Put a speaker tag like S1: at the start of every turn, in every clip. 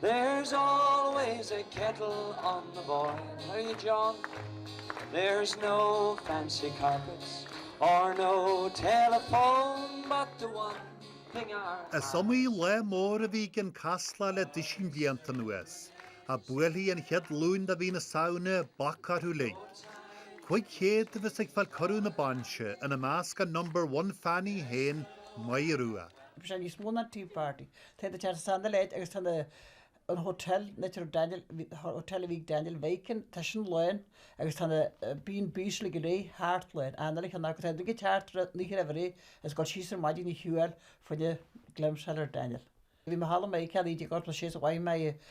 S1: There's always a kettle on the boil, are you John? There's no fancy carpets or no telephone but the one thing our house Is iomaí
S2: lá mór a bhí i gCionn Caslach le duisín blianta anuas, ach buailfidh an chéad Luan de mhí na Samhna, bac orthu uilig. Cúig chéad a bheas ag fáil cuireadh na bainse, ina measc an number one fan í féin, Máire Rua. Beidh sé níos mó ná
S3: tea party. Tá daoine ag teacht as an uile áit, agus tá na an Hotel an áit a raibh Daniel, Hotel a bhí ag Daniel Viking, tá sin lán agus tá na B&Bs uilig go léir thart lán, an uile cheann agus tá siad ag teacht an oíche roimh ré agus ag dul síos ar maidin a shiúl fá choinne glimpse a fháil ar Daniel. Bhí mé thall i Meiriceá i 1946 is a mhaígh mé i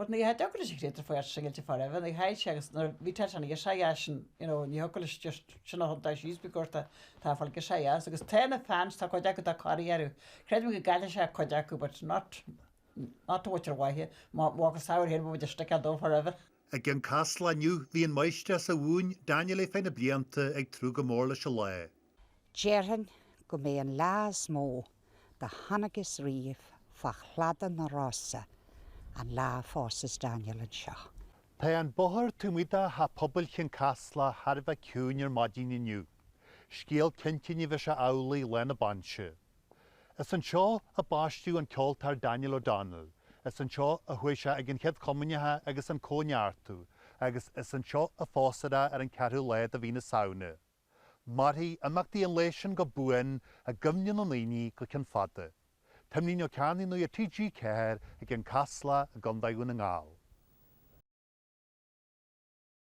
S3: But ní thiocfadh leis an chréatúr fanacht singilte forever, ní h-é sin agus nuair, bhí Tarzan ag seidh as sin, you know, ní thiocfadh leis just, sin a thugtar síos faoi cuirt a, tá fáil ag seidh as agus tá na fans, tá cuid acu atá corraithe, creidim go gcaillfidh sé cuid acu but not, not too much ar mhaithe, má fhágas Samhradh fhéin, beidh muid ag sticeáil dó forever. I gCionn
S2: Caslach inniu bhí an máistreás a mhúin Daniel ar feadh na mblianta ag tnúth go mór leis an lá.
S4: Déarfainn go mb'é an lá is mó do chonacthas riamh fá chladaigh na Rosann an lá a phósfas Daniel anseo. Tá an
S2: bóthar taobh amuigh de Theach Pobail Chionn Caslach thar a bheith ciúin ar maidin inniu. Scéal cinnte ní bheidh sé amhlaidh lá na bainse. Is anseo a baisteadh an ceoltóir Daniel O'Donnell, is anseo a chuaigh sé ag an Chéad Chomaoineach agus an Cóineartú, agus is anseo a phósfar é ar an ceathrú lá de mhí na Samhna. Mairfidh imeachtaí an lae sin go buan i gcuimhne na ndaoine go ceann fada. Timlín Ó Cearnaigh Nuacht TG4 i gCionn Caslach i gContae Dhún na nGall.